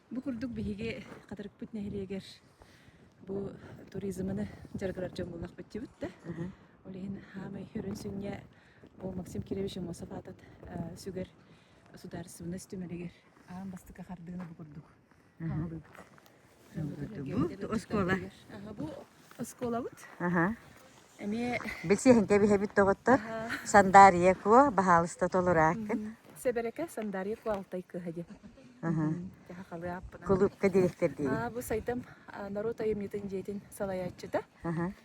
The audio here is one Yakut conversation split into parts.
Бу курдук биһиги Хатырыкпыт нэһилиэгэр бу туризмыны дьарыгырар дьон буллах бүттүбүт да. Ол иһин хаамай хүрүн сүнньэ ол Максим Кирович Умосов аатат сүгэр судаарыстыбаннас түмэлигэр аан бастакы хардыыны бу курдук хаалыбыт. оскуола. Оскуолабыт. Аха. Эмиэ Билсиһин кэбиһэбит тоҕоттор. Сандаарыйа куо, баһаалыста толурааккын. Сэбэрэкэ Сандаарыйа куо алтай кыһа диэн. Аха. Жаха халыаппына. Кулуупка директор дии. А, бу сайдам народ айымньытын дьиэтин салайааччыта. Аха.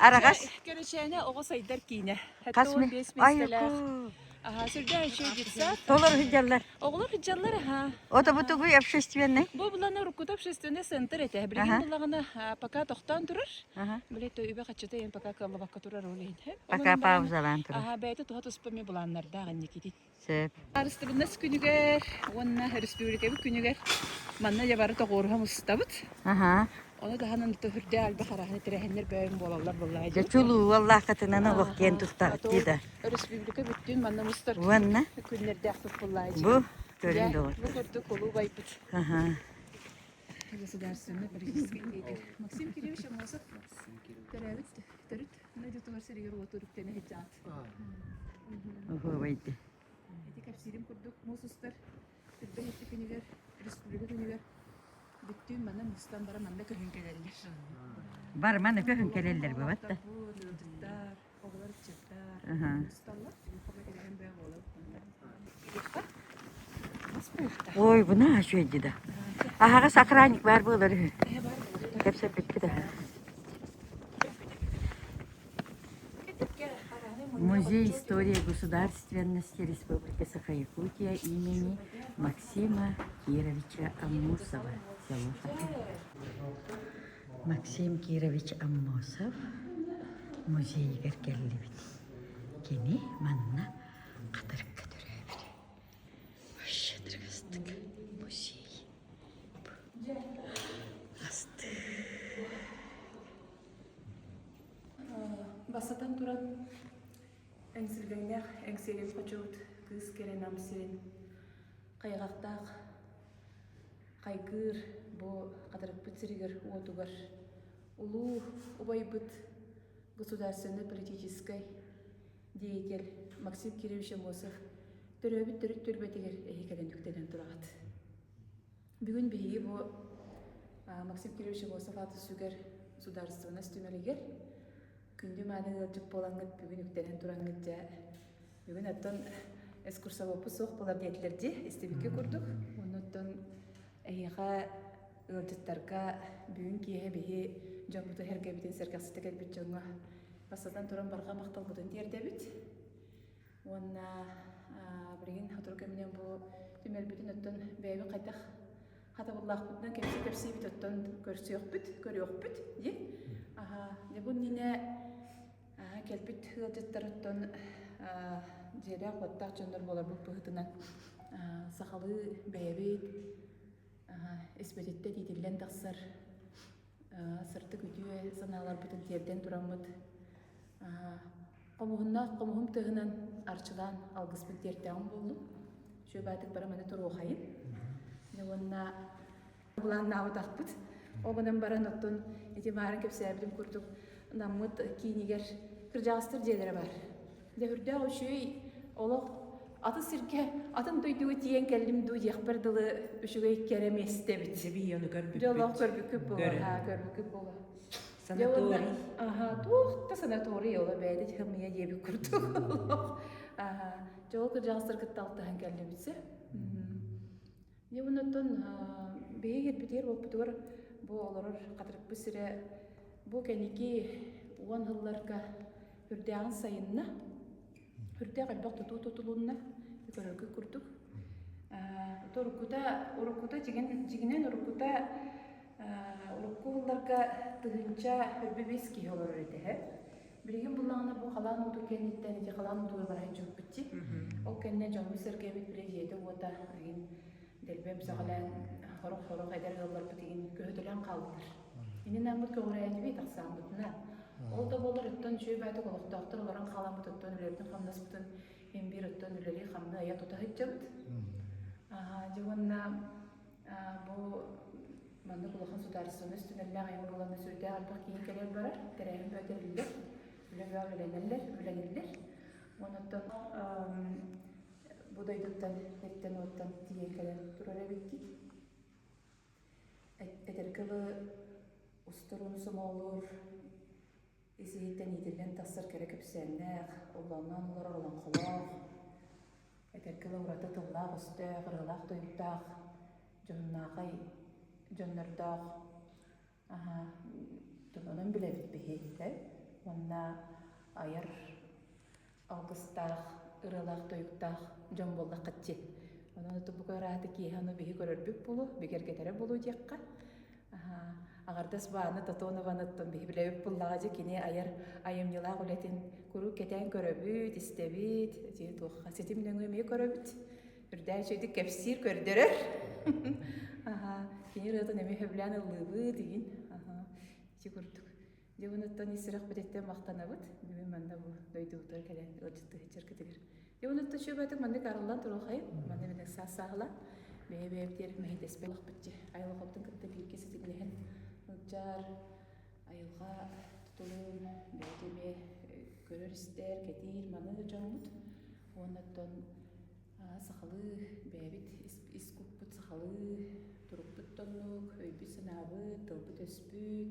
Араҕас. Көлөчөөнө оҕо сайдар киинэ. Хас мин? Айку. Аха, сүрдээн үчүгэй детсад. Толор сылдьаллар. Оҕолор сылдьаллар, аха. Это бы тугуй общественный? Бу булана уруккута общественный центр этэ. Билигин булаҕына пока тохтоон турар. Блять, үбэ хаччыта ен пока кылабакка турар ол иһин. Пока паузалаан турар. Аха, бэйэтэ туһа туспа ми буланнардаах инникитин. Сөп. Харыстабылынас күнүгэр уонна өрөспүүбүлүкэбит күнүгэр манна дьэ бары тоҕуоруһа мустабыт. Аха. Ону таһынан төрдө альба хараһаны тирэһэннэр бөйөм буолаллар буоллаҕа дии. Дьэ, чулуу уоллаахкатынан олох диэн тустаахтыы да. Өрөспүүбүлүкэ бүттүн манна мустар Уонна күннэрдээх туппуллаҕа дии. бу көрүн доҕор. Бу курдук кулуу байбыт Аха. государственнай политическай лидер Максим Кириллович Амосов төрөөбүт төрүт Дойдутугар сиригэр-уотугар үктэнэ сылдьаат. Оһуобайды. Ити кэпсиирим курдук муус устар сирбэһиччи күнүгэр, республика күнүгэр бүттүүн манна мустан баран манна көһөн кэлэллэр. Бар маны көһөн кэлэллэр бабатта. Оҕолор ыччаттар, мусталлар. Хомо тиригэн бөҕө буолар. Ой, буна ачуйди да. Аһаҕас охранник баар буолар үһү. Кэпсэппикки да. Музей истории государственности Республики Саха-Якутия имени Максима Кировича Аммосова. Село Максим Кирович Аммосов музейыгар келлибит. Кини манна Ынахтарга төрөөбүтэ Шадрастк музей астыы Бастатан туран эҥсилбэҥнээх эҥсилин хочубут кыыс кэрэ намсин хайҕахтаах хайгыыр бу хатарыкпыт сиригэр уотугар улуу убайбыт государственнай политическай деятель Максим Кириллович Амосов төрөөбүт төрүт түөлбэтигэр эһи кэлэн үктэлэн тураҕат. Бүгүн биһиги бу Максим Кириллович Амосов ааты сүгэр судаарыстыбанас түмэлигэр күндү мааны ыалдьыт буолаҥҥыт бүгүн үктэнэн тураҥҥыт дьэ бүгүн оттон экскурсовоппут суох болар диэтилэр дии истибикки курдук оннуттан Эһиэхэ ыалдьыттарга бүгүн киэһэ биһи дьоммут эһэргэбитин сэргэхситэ кэлбит дьоҥҥо бастатан туран барҕа махталбытын тиэрдэбит. Уонна билигин сотору кэминэн бу түмэлбитин оттон бэйэбин хайдах хатабыллаахпытынан кэмсэ кэпсиибит оттон көрсүөхпүт, көрүөхпүт ди. Аха, дьэ бу иннинэ Аһа кэлбит ыалдьыттар оттон дьиэлээх баттах дьоннор буоларбыт быһыытынан сахалыы бэйэбит испэтиттэ тиитиллэн тахсар сырдык үтүө санааларбытын тиэрдэн тураммыт хомуһуннаах хомуһум тыаһынан арчылаан алгыспыт диэртээҕим буоллум шөбаатык бара маны туруохайын уонна былааннаабатахпыт ол гынан баран оттон ити баарын кэпсээбитим курдук наммыт киинигэр кырдьаҕастар дьиэлэрэ бар дьэ үрдээх үчүүй олох атын сиргэ атын дойдуга тиийэн кэллим дуу диэхпэр дылы үчүгэй кэрэ местэбит сибии ону көрбүппүт дьоллоох көрбүккүт буолуо ха көрбүккүт буолуо санаторий аха туох да санаторий оло бэйэтэ тихамыйа диэбит курдук аха дьол кырдьаҕастар кытта алтыһан кэллибитсэ Ньугунуттан биһиги кэлбитигэр уоппутугар бу олорор Хатырыкпыт сирэ бу кэнники уон сылларга үрдээҕин сайынна. Үрдээх элбэх тутуу тутулунна, көрөргө курдук. Уруккута уруккута жигин жигинен уруккута урукку сылларга тыһыынча өрбүбүс киһи олорор этэ. Билигин буллаҕына бу халаан уутун кэнниттэн ити халаан уутугар баран дьүкпүтчүт. Ол кэннэ дьоммут сэргэбит били дьиэтэ-уота игин дэлбэм сөҕөлөөн хорох-хорох эдэр ыалларбыт игин көһөтөлөөн хааллылар. Инин аммыт көҕүрээтиби тахсааммытынан. Ол да болар өттөн үчүгэй баатык олохтоохтор олорон хааламмыт өттөн үлэлэрбитин хамнаспытын имбир өттөн үлэлии хамны ая тута сыдьабыт. Аха дьэ уонна Бу маннык улахан судаарыстыбаннас түмэллээх айан буолан да сүрдээх ардах киин кэлэн барар, тэрээһин бөтөрүллэр, үлэ-бөҕө үлэлэнэллэр, үлэлэниллэр. Онуттан бу дойдуттан эттэн уоттан тиийэн кэлэн турар эбикки. Эдэрки устурун сомоолуур Ис иһиттэн иитиллэн тахсар кэрэ кэпсээннээх, оллоонноон олорор олоҥхолоох, эдэрки ыла ураты тыллаах-өстөөх, ырыалаах-туйуктаах, дьоһуннаахай дьоннордоох онон билэбит биһиэхитэ уонна айар алгыстаах, ыралаах-тойуктаах дьон буоллаххыт дии. Онон ытыбыга ырааты киэһэ аны биһи көрөрбүт болу, бигэргэтэрэ болу диэххэ. Аҕардас бааны Татонованыттан биһи билэбит буллаҕа дьэ кини айар айымньылаах үлэтин куруук кэтээн көрөбүт, истэбит, туохха ситим нөҥүө эмиэ көрөбүт. Үрдээн үчүгэйдик кэпсиир, көрдөрөр. Аха, кини ырыатын эмиэ хөбүлээн ыллыыбыт, игин. Аха, ити курдук. Дьэ онуттан ис сүрэх бититтэн махтанабыт. Бүгүн манна бу дойдубутугар кэлэн ыалдьыттыһыччыркытыгар. Дьэ онуттан чөбөтүк маннык арыллан туруохайын, манна бинек саасаахылан, бэйэ бэйэбитигэр мэһидэспэт бахпытчы. Айылҕабытын кытта бииргэ ситиглэһэн, ылдьаар, айылҕа тутулун бэйэтэ эмиэ көрөр-истэр, кэтиир, маныыр дьоммут. Уоннаттан сахалыы бэйэбит ис куппут сахалыы турукпут тоннук, өйбүт-санаабыт, тылбыт өспүт,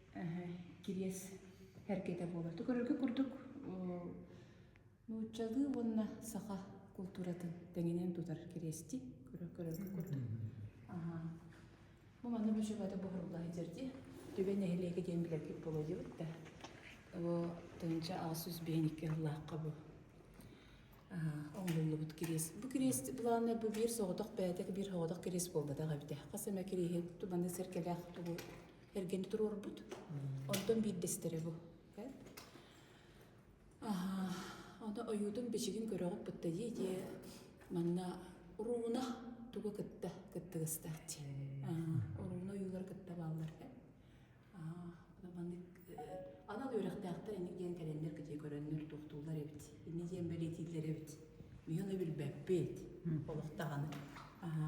кириэс эргитэ буолбатты көрөргө курдук нууччалыы уонна саха култууратын тэҥинэн тутар кириэсти көрөргө курдук бу манна бүжүбаты буһурулла итерди түбэ нэһилиэгэ диэн билэргит болодибут да бу тынча ас үс биһиникке ыллаакка бу оңлуллубут кириэс бу кириэс былааны бу биир соҕотох бээтэх биир соҕотох кириэс буолбатах эбитэ хас эмэ кириэһи тубаны сэркэлээх тугу эргэн туруорбут. Онтон биирдэстэрэ бу. Аха, оны ойуутун бичигин көрөҕүт бытта дии манна урууна тугу кытта кыттыгыстаах дии. Урууна ойуулар кытта бааллар. маннык анал үөрэхтээхтэр ини диэн кэлэннэр кытыы көрөннөр тухтуулар эбит. Ини диэн бэлитиилэр эбит. Миһи оны билбэппит. Олохтаҕаны. Аха.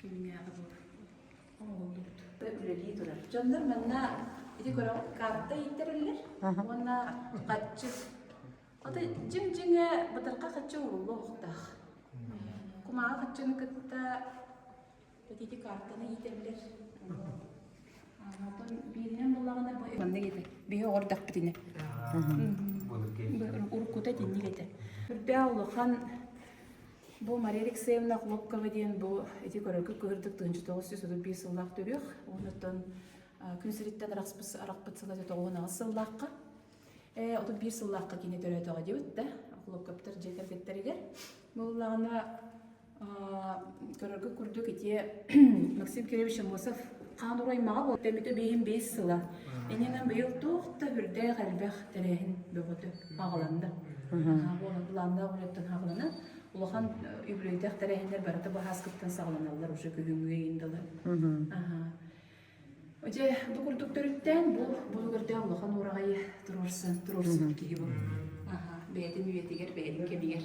Кэмнээҕи бу оҥоһуллубут. Үлэлии турар. Дьоннор манна ити көрөҥ карта ииттэрэллэр уонна хаччы ото дьиҥ-дьиҥэ бытарха хаччы ууруллуохтаах. Кумааҕы хаччыны кытта ити картаны иитэллэр. Оттон бииринэн буллаҕына бу маннык ити биһи оҕордохпутуна уруккута итинник этэ. Үрдээх улахан Бу Мария Алексеевна Хлопкова диэн бу ити көрөргө көрөрдүк тыһынча тоҕус сүүс отут биир сыллаах төрүөх уонуттан күн сириттэн арахпыт арахпыт сыла тоҕуһун аҕыс сыллаахха отут биир сыллаахха кини төрөөтөҕө диэбит да хлопковтар дьиэ кэргэттэригэр буоллаҕына көрөргө курдук итиэ Максим Кириллович Амосов хаан ураймаҕа буолта эмитэ биэһин биэс сыла ининэн быйыл туох да үрдээх элбэх тэрээһин бөҕөтө аҕаланна буолан былааннаах үлэттэн хаҕыланан улахан үбүлүйдэх тэрээһиннэр барыта баһааскыттан саҕаланаллар уже күһүҥҥү ыйындалар Дьэ, бу курдук төрүттээн бу бу көрдөөх улахан ураҕайы туруорсан туруорсубут киһи буолла. Аха, бэйэтин үйэтигэр, бэйэтин кэмигэр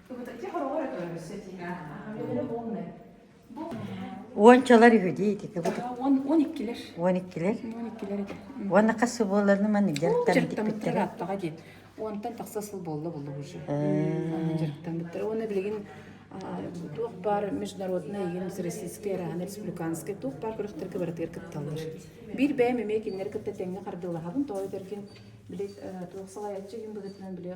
Уончалар үһү диитики Он он иккилер. Уон иккилэр? Он иккилер этэ. Уонна хас сыл буолланы маны дьарыктан диттиктире? Аттаҕа диет. Онтан тахса сыл буолла буллуг уже. Дьарыктамыттара. Оны билигин туох бар международнай егин российскай арахан республиканскай туох бар күрөхтөргө барытыгар кытталлар. Биир бэйэм эмиэ кинилэр кытта тэҥҥэ хардылаһабын, тоой дэргин били туох салайаччы ин быгытынан били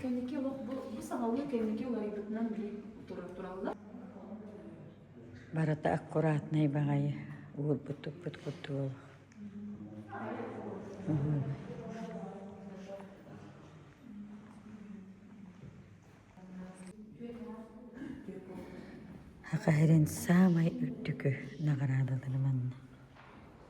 Кэнники олох бу ис аһылыы кэнники уларыйбытынан дии тураллар. Барыта аккуратнай баҕайы уурбут-туппут курдук олох. Хахаһирин саамай үрдүкү наҕараадалары манна.